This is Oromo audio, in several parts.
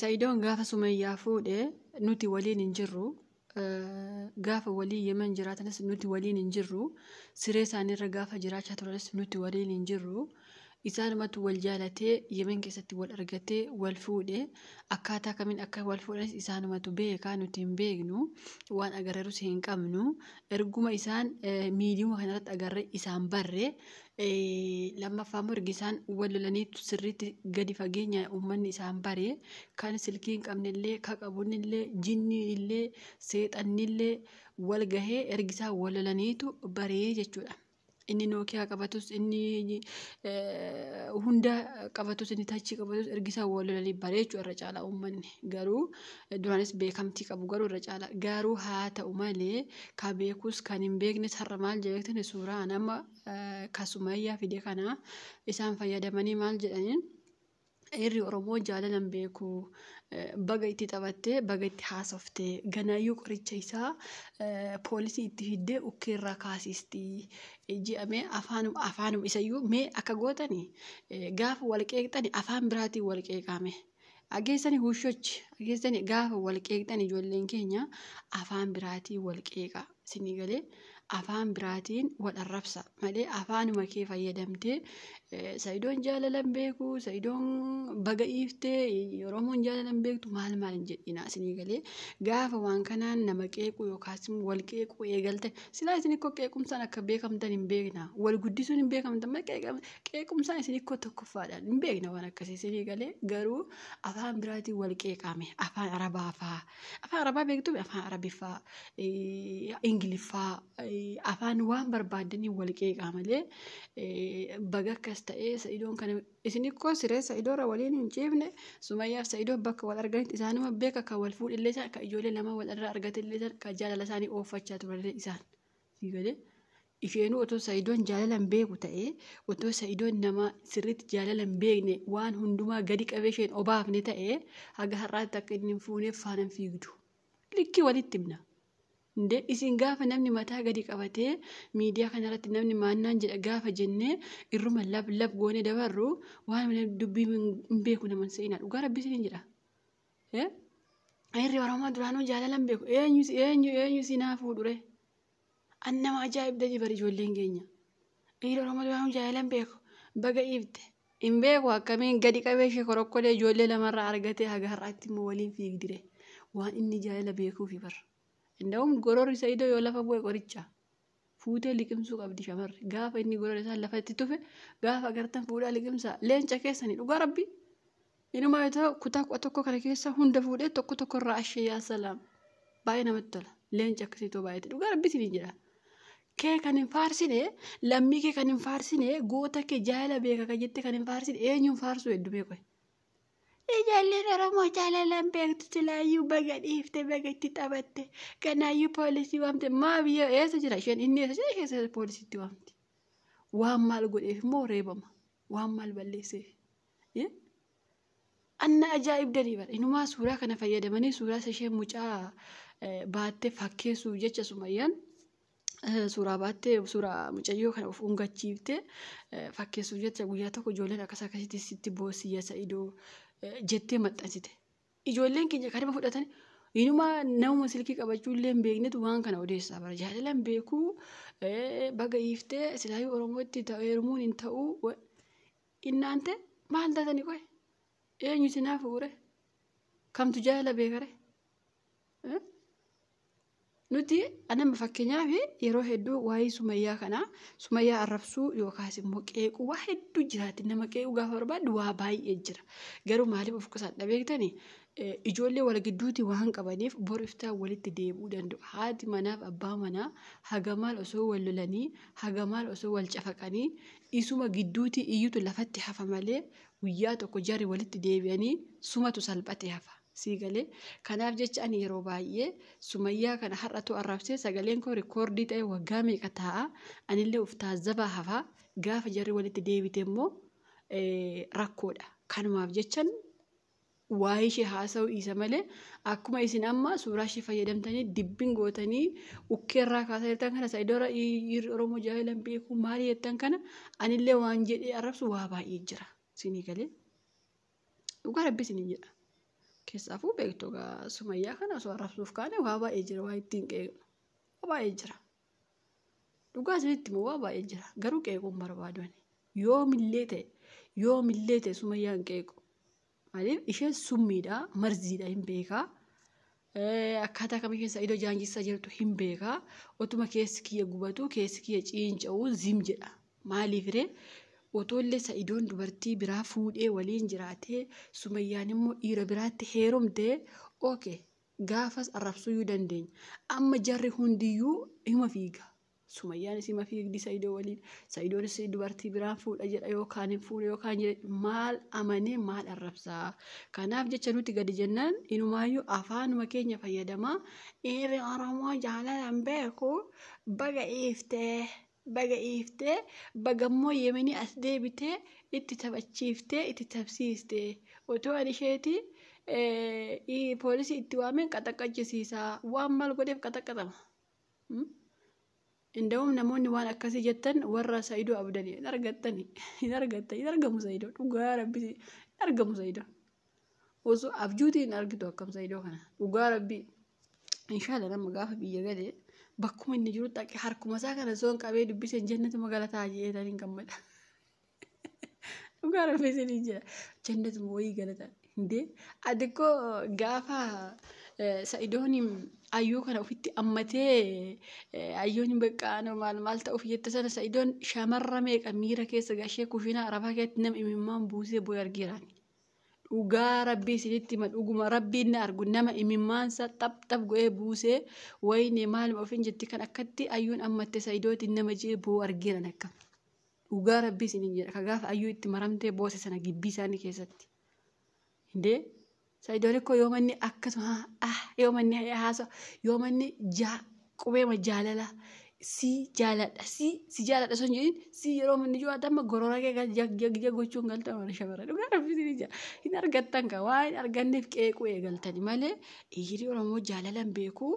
Sa'idoon gaafa Sumayyaa fuudhe nuti waliin hin jirru. Gaafa walii Yemen jiraatanis nuti waliin hin jirru. Siree isaaniirra gaafa jiraachaa turanis nuti waliin hin jirru. Isaanumatu wal jaalatee Yemen keessatti wal argatee wal fuudhe. Akkaataa kamiin akka wal fuudhanis isaanumatu beekaa nuti hin beeknu. Waan agarrerus hin qabnu. Erguma isaan miidiyuma kanarratti agarre isaan barre. lammaffaa immoo erga isaan wal lolaniitu sirriitti gadi fageenya uummanni isaan baree kan silkii hin qabnellee ka qabunillee jinniinillee seexannillee wal gahee ergi isaan wal lolaniitu baree jechuudha. Inni nookiyaa qabatus inni hunda qabatus inni tachii qabatus ergi isaan wal lolanii baree jechuudha irra caalaa uummanni garuu duraanis beekamtii qabu garuu irra caalaa garuu haa ta'u malee ka beekus kan hin beeknes har'a maal jedhee suuraa nama ka sumayyaa fide kana isaan fayyadamanii maal jedhaniin dhiirri oromoo jaalalan beeku baga itti taphattee baga itti haasofte ganaayyuu qoricha isaa poolisii itti fiddee ukkeerraa kaasisti jedhamee afaanum afaanum isayyuu mee akka gootani gaafa wal qeeqxani afaan biraatiin wal qeeqaame. Dhageessani huushochi dhageessani gaafa wal qeeqxan ijoolleen keenya afaan biraatiin wal qeeqa sinii galee afaan biraatiin wal arrabsa malee afaanuma kee fayyadamtee sayidoon jaalalan beeku sayidoon baga dhiiftee oromoon jaalalan beektu maal maal hin jedhina sinii galee gaafa waan kanaan nama qeequ yookaas wal qeequ eegalte silaa isin ikkoo qeequmsaan akka beekamtan hin beekna wal guddisuun hin beekamtan qeequmsaa isin ikkoo tokkoffaadhaan hin beekna waan akkasii isinii galee garuu afaan biraatiin wal qeeqaame afaan arabaa faa afaan arabaa beektume afaan arabiffaa eh, ingiliffaa eh, afaan waan barbaadanii wal qeeqaa malee eh, baga akkas ta'ee sa'idoon kana isin ikkoo siree sa'idoora waliin hin ciifne sumayyaaf sa'idoon bakka wal arganitti isaanuma beeka kan wal fuudhillee isaan kan ijoollee lama wal irraa argatillee isaan kan jaalala isaanii ooffachaa turanillee isaan. Sii galee isheenuu otoo sa'idoon jaalala hin beeku ta'ee otoo sa'idoon nama sirriitti jaalala hin beekne waan hundumaa gadi qabee isheen obaafne ta'ee haga har'aatti akka inni hin fuuneef faana hin fiigdu. Likkii walitti himna. Indee isin gaafa namni mataa gadi qabatee miidiyaa kanarratti namni maannaan jedha gaafa jennee irruma lab lab goone dabarru waan dubbii hin beeku naman se'ina dhugaa rabbii isiniin jedha. Ayirri Oromoo duraanuu jaalalan beeku. Eenyu eenyu eenyu si naa fuudhure. An nama ajaa'ibda jibar ijoolleen keenya. Ayirri Oromoo duraanuu jaalalan beeku. Baga ibte. Hin beeku akkamiin gadi qabee ishee korokkolee ijoollee lamarraa argatee haga har'aatti immoo waliin fiigdire. Waan inni jaalala beekuufi bar. Inda'uun gororri isa idoo yoo lafa bu'e qoricha. fuutee liqimsuu qabdi shamarri gaafa inni gorora isaa lafa itti tufe gaafa agartan fuudhaa liqimsaa leenca keessani dhugaa rabbi inumaa yoo ta'u kutaa kudha tokko kana keessa hunda fuudhee tokko tokko irraa ashee yaa salaam baay'ee namatti tola leenca akkasii too baay'eeti dhugaa rabbi isinii jedha kee kan hin faarsine lammii kee kan hin faarsine goota kee jaala beeka kan jette kan hin faarsine eenyuun faarsuu heddumee qoy Ijoolleen Oromoo jaalalaan beektu silaayyuu baga dhiifte baga itti taphatte kanaayyuu poolisii waamte maa biyya eessa jira isheen inni eessa jira isheen eessa poolisiitti waamte waan maal godheef immoo reebama waan maal balleesseef Eh? anna ajaa'ibdanii bara inumaa suuraa kana fayyadamanii suuraa isa isheen mucaa eh, baattee fakkeessuuf jecha sumayyaan eh, suuraa baattee suuraa mucayyoo kana of ungachiifte eh, fakkeessuuf jecha guyyaa tokko ijoolleen akkas akkasitti sitti boosiyya sa'idoo eh, jettee maxxansite. Ijoolleen keenya kanuma fudhatan inuma namuma silkii qabachuu illee hin beeknetu waan kana odeessaa bara jaalala hin beekuu eh, baga hiiftee silaayuu Oromootti ta'u heerumuun hin ta'uu wa- innaante maal taatani qoy eenyu sinaa fuure kamtu jaalala beekare. Eh? Nuti anama fakkeenyaaf yeroo hedduu waa'ee sumayyaa kana sumayyaa arrabsuu yookaas immoo qeequu waa hedduu jiraati nama qeequu gaafa barbaaddu waa baay'ee jira garuu maaliif of qusadha beektani ijoollee wal gidduuti waan qabaniif bor iftaa walitti deebi'uu danda'u haati manaaf abbaa manaa haga maal osoo wal lolanii haga maal osoo wal cafaqanii isuma gidduuti iyyutu lafatti hafa malee guyyaa tokko jarri walitti deebi'anii sumatu salphate hafa. Sii galee? Kanaaf jecha ani yeroo baay'ee Sumayyaa kana har'atu arrabsee sagaleen koo rikoordii ta'ee waggaa meeqa taa'a? Anillee of taazzabaa hafa. Gaafa jarri walitti deebite immoo rakkoodha. Kanumaaf jechan waa'ee ishee haasa'uu dhiisa malee akkuma isin amma suuraa ishee fayyadamtanii dibbin gootanii ukkee irraa kaasaa jirtan kana sa'idoora dhiirri Oromoo jaalan beeku maali jettan kana anillee waan jedhee arrabsu waa baay'ee jira. Siinii galee? Dhugaa rabbi isiniin jedha. Keessaafuu beektu egaa sumayyaa kana osoo arrabsuuf kaane waa baay'ee jira waa ittiin qeeqnu. Waa baay'ee jira. Dhugaa isinitti immoo waa baay'ee jira. Garuu qeequun barbaadu ani. Yoomillee ta'e yoomillee ta'e sumayyaan qeequ. Maaliif isheen summiidha marziidha hin beekaa. Akkaataa kami keessa idoo jaanjissaa jirtu hin beeka. Otuma keessi kiyya gubatu keessi kiyya ciinca'u zim jedha. Maaliif ree? Otoollee sa'idoon dubartii biraa fuudhee waliin jiraatee sumayyaan immoo dhiira biraatti heerumte oke gaafas arrabsuyyuu dandeenya. Amma jarri hundiyyuu hima fiiga. Sumayyaan isii mafii higdi Saidoo waliin Saidoonis dubartii biraan fuudha jedha yookaan hin fuune yookaan jedhe maal amanee maal arrabsaa kanaaf jecha nuti gadi jennaan inumaayyuu afaanuma keenya fayyadamaa dhiirri Oromoo jaalalaan beeku baga iiftee baga iiftee bagammoo yemenii as deebitee itti taphachiiftee itti tapsiiste otoo ani isheeti poolisii itti waameen qaxaqqachisiisaa waan maal godheef qaxaqqatama. Inda'uum namoonni waan akkasii jettan warra Sa'idoo abdan hin argattan hin argattan hin argamu Sa'idoo dhugaa rabbi hin argamu Sa'idoo. Osoo abjuuti hin argitu akkam Sa'idoo kana dhugaa rabbi inshaalla nama gaafa biyya galee bakkuma inni jiru dhaqee harkuma isaa kana soon qabee dubbiseen jannatu magalataa jedhee tan hin gammada. Dhugaa rabbi isin hin jira. Jannat moo wayii galata. Hindee ati ko gaafa sa'idoon ayyuu kana ofitti ammatee ayyoon bakka anoo maal maal ta'uuf jette sana sa'idoon shamarra meeqa miira keessa gashee kushinaa arabaa keessatti nama imimmaan buusee booy argeeraan. Dhugaa rabbii isinitti hima dhuguma rabbiin na argu nama imimmaansa xap xap go'ee buusee wayinee maaluma ofiin jetti kan akkatti ayyuun ammatte sa'idootiin nama je'ee boo argeeran akka. Dhugaa rabbii isinin jedha ka gaafa ayyuu itti maramtee boose sana gibbii isaanii keessatti. Hindee sa'idoon ikkoo yoo manni akkasuma ah yoo manni haasa yoo manni jaa qubeema jaalala si jaaladha si si jaaladha sun jedhin si yeroo manni jiru adamma gorora kee gal jag jag jag gochuun galta mana shamara dhugaa rabbii isinin jedha hin argattan ka waa hin arganneef qeequu eegaltani malee dhiirii oromoo jaalalan beekuu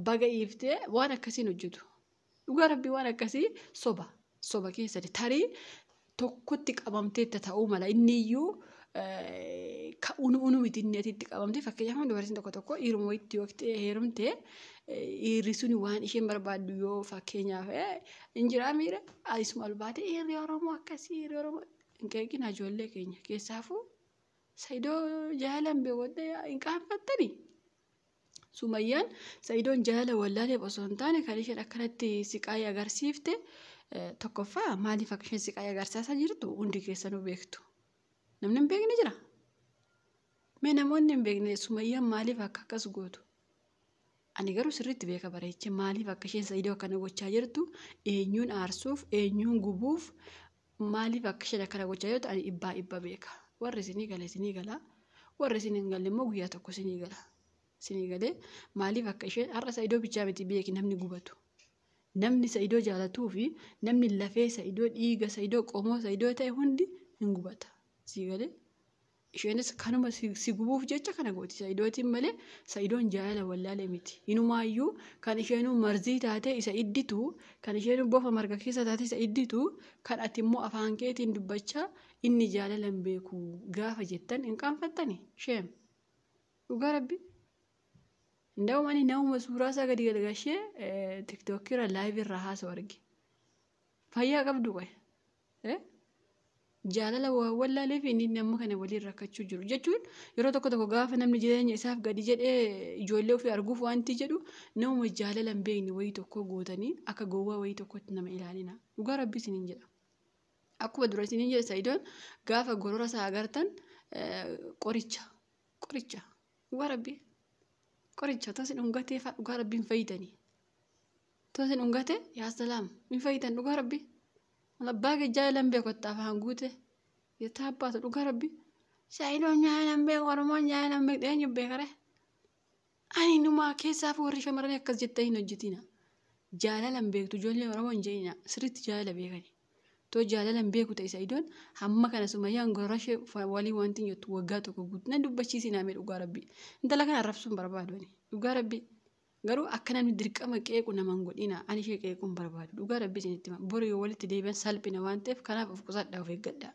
baga iiftee waan akkasiin hojjetu. Dhugaa rabbii waan akkasii soba soba keessati tarii tokkotti qabamteetta ta'uu mala inni iyyuu ka unu unu miti inni ati itti qabamte fakkeenyaaf dubartiin tokko tokko dhiiruma wayitti yoo heerumte dhiirri sun waan isheen barbaaddu yoo fakkeenyaaf hin jiraa miira isuma ol baate dhiirri oromoo akkasii dhiirri oromoo hin qeeqina ijoollee keenya keessaafuu sayidoo jaalan beewwadda hin qaanfattanii Sumayyaan Sa'idoon jaalala wallaaleef osoo hin taane kan isheen akkanatti siqaayii agarsiifte eh, tokkoffaa maaliif akka isheen siqaayii agarsiisaa jirtu hundi keessanuu beektu. Namni hin beekne jira. Mee namoonni hin beekne sumayyaan maaliif akka akkas gootu? Ani garuu sirriitti beeka bareeche maaliif akka isheen Sa'idoo akkana gochaa jirtu eenyuun aarsuuf eenyuun gubuuf Maaliif akka isheen akkana gochaa jirtu ani dhibbaa dhibba beeka. Warri isinii gale isinii gala. Warri isin hin galle immoo guyyaa tokko isinii gala. Isinii galee maaliif akka isheen har'a isa idoo bichaa miti beeki namni gubatu. Namni isa idoo jaalatuu fi namni lafee isa idoo dhiiga isa idoo qomoo isa idoo ta'e hundi hin gubata. Sii galee Isheenis kanuma si, si gubuuf jecha kana gooti Sa'idootiin malee Sa'idoon jaalala wallaale miti. Inumaayyuu kan isheenuu marzii taatee isa idditu, kan isheenuu bofa marga keessa taatee isa idditu, kan ati immoo afaan keetiin dubbachaa inni jaalala hin beeku gaafa jettan hin qaanfattani? Sheem. Dhugaa rabbi. Nda'um ani namuma suuraa isaa gadi galgashee tiktookii irra laayivii irra haasa'u arge. Fayyaa qabdu qoye. jaalala waan wallaaleef inni inni amma kana waliin rakkachuu jiru jechuun yeroo tokko tokko gaafa namni jireenya isaaf gadi jedhee ijoollee ofii arguuf wanti jedhu namuma jaalala hin beekne wayii tokko gootanii akka gowwaa wayii tokkotti nama ilaalina dhugaa rabbi isiniin jedha. Akkuma dura isiniin jedhe sa'idoon gaafa gorora isaa agartan qoricha qoricha dhugaa rabbi qoricha tasi dhungateefaa dhugaa rabbiin fayyitanii. Too isin dhungate yaa salaam hin fayyitan dhugaa rabbi. Wal abbaa kee jaalan beeku itti afaan guute. Jettaa abbaatu dhugaa rabbi. Saayidoon jaalan beeku oromoon jaalan beektu eenyu beekare. Ani numaa keessaaf warri shamarranii akkas jettanii hin hojjetina. Jaalalan beektu ijoollee oromoon jeena sirriitti jaalala beekani. Too jaalalan beeku ta'e saayidoon hamma kana sumayyaan gorora ishee waliin wanti hin jettu waggaa tokko guutuu nan dubbachiisinaa mee dhugaa rabbi. Intala kana arrabsuun barbaadu ani dhugaa rabbi. Garuu akka namni dirqama qeequ nama hin godhina. Ani ishee qeequu hin barbaadu. Dhugaa rabbii isinitti hima. Bori yoo walitti deebi'an salphina waan ta'eef kanaaf of qusadhaa of eeggadhaa.